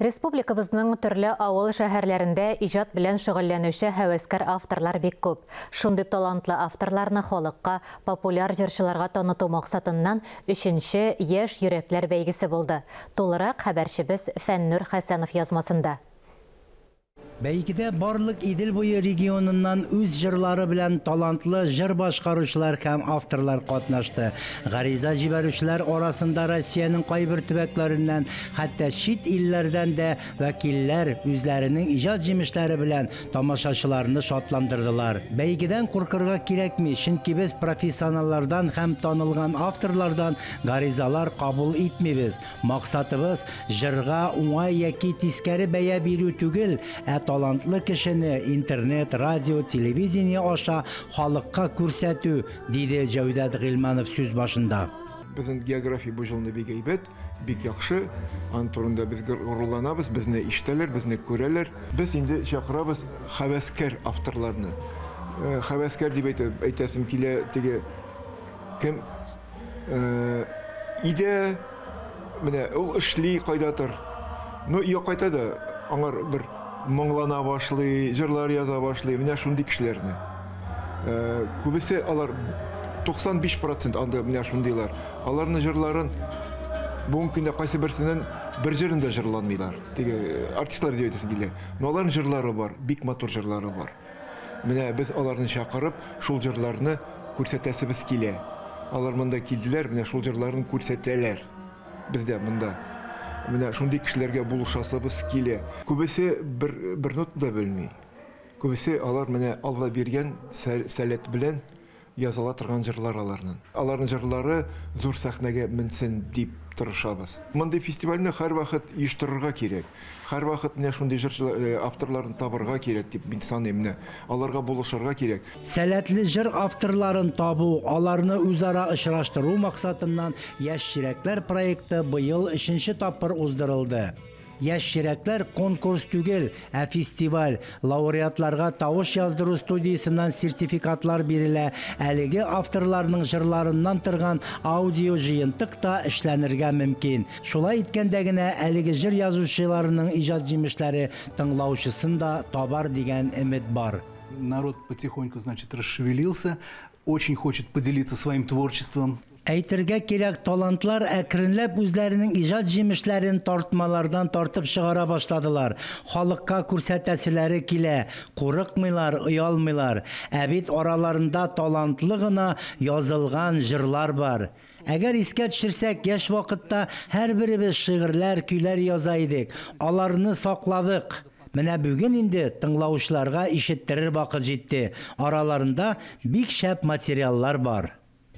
Республикабызның төрле авыл шәһәрләрендә иҗат белән шөгыльләнүче һәвәскәр авторлар бик күп. Шундый талантлы авторларны халыкка, популяр җырчыларга таныту максатыннан өченче Яшь йөрәкләр бәйгесе булды. Тулырак хәбәрчебез Фәннүр Хәсәнов язмасында. Бәйгедә барлык Идел буе регионыннан үз җырлары белән талантлы җыр башкаручылар һәм авторлар катнашты. Гариза җибәрүчеләр арасында Россиянең кайбер төбәкләреннән, хәтта чит илләрдән дә вәкилләр үзләренең иҗат җимешләре белән тамашачыларны шатландырдылар. Бәйгедән куркырга кирәкми, чөнки без профессионаллардан һәм танылган авторлардан гаризалар кабул итмибез. Максатыбыз, җырга уңай яки тискәре бәя бирү түгел, ә талантлы кешене интернет, радио, телевидение аша халыкка күрсәтү, диде Җәүдәт Гыйльманов сүз башында. Безнең география бу җылны бик әйбәт, бик яхшы. Ан турында без горурланабыз, безне ишетәләр, безне күрәләр. Без инде чакырабыз хәвәскәр авторларны. Э, хәвәскәр дип әйтә, әйтәсем килә, теге кем Э, иде менә ул эшли кайдатыр ну өйгә кайта да аңар бер моңлана башлый җырлар яза башлый менә шундый кешеләрне э, күбесе алар 95 процент анда менә шундыйлар аларның җырларын бүгенге көндә кайсы берсенен бер җырын да җырланмыйлар теге э, артистлар дип әйтәсем килә но аларның җырлары бар бик матур җырлары бар Менә без аларны чакырып, шул җырларны күрсәтәсебез килә. Алар монда килделәр, менә шул җырларын күрсәтәләр. Без дә монда менә шундый кешеләргә булышасыбыз килә. Күбесе бер, бер нота да белми. Күбесе алар менә Алла биргән сәләт белән Языла торган җырлар аларнын. Аларнын җырлары зур сәхнәгә менсен дип тырышабыз. Мондый фестивальне һәрвахыт оештырырга кирәк. Һәрвахыт менә шундый җырчы авторларны табырга кирәк дип мин саныйм. Менә аларга булышырга кирәк. Сәләтле җыр авторларын табу, аларны үзара очраштыру максатыннан Яшь чирәкләр проекты быел өченче тапкыр уздырылды. Яшь чирәкләр конкурс түгел, ә фестиваль. Лауреатларга тавыш яздыру студиясеннән сертификатлар бирелә, әлеге авторларның җырларыннан торган аудиоҗыентык та эшләнергә мөмкин. Шулай иткәндә генә әлеге җыр язучыларының иҗат җимешләре тыңлаучысын да табар дигән өмет бар. Народ потихоньку, значит, расшевелился, очень хочет поделиться своим творчеством. Әйтергә кирәк, талантлар әкренләп үзләренең иҗат җимешләрен тартмалардан тартып чыгара башладылар, халыкка күрсәтәселәре килә, курыкмыйлар, оялмыйлар. Ә бит араларында талантлы гына язылган җырлар бар. Әгәр искә төшерсәк, яшь вакытта һәрберебез шигырьләр, көйләр яза идек, аларны сакладык. Менә бүген инде тыңлаучыларга ишеттерер вакыт җитте, араларында бик шәп материаллар бар.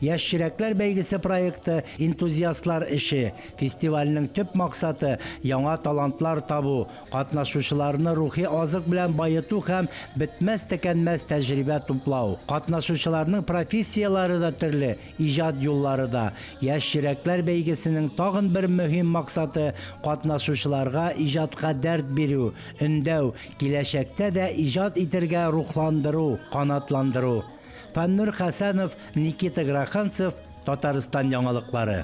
Яшь чирәкләр бәйгесе проекты, энтузиастлар эше. Фестивальнең төп максаты, яңа талантлар табу, катнашучыларны рухи азык белән баету һәм бетмәс-текәнмәс тәҗрибә туплау. Катнашучыларның профессияләре дә төрле, иҗат юллары да. Яшь чирәкләр бәйгесенең тагын бер мөһим максаты, катнашучыларга иҗатка дәрт бирү, өндәү, киләчәктә дә иҗат итергә рухландыру, канатландыру. Фәннүр Хәсәнов, Никита Гроханцев, Татарстан яңалыклары.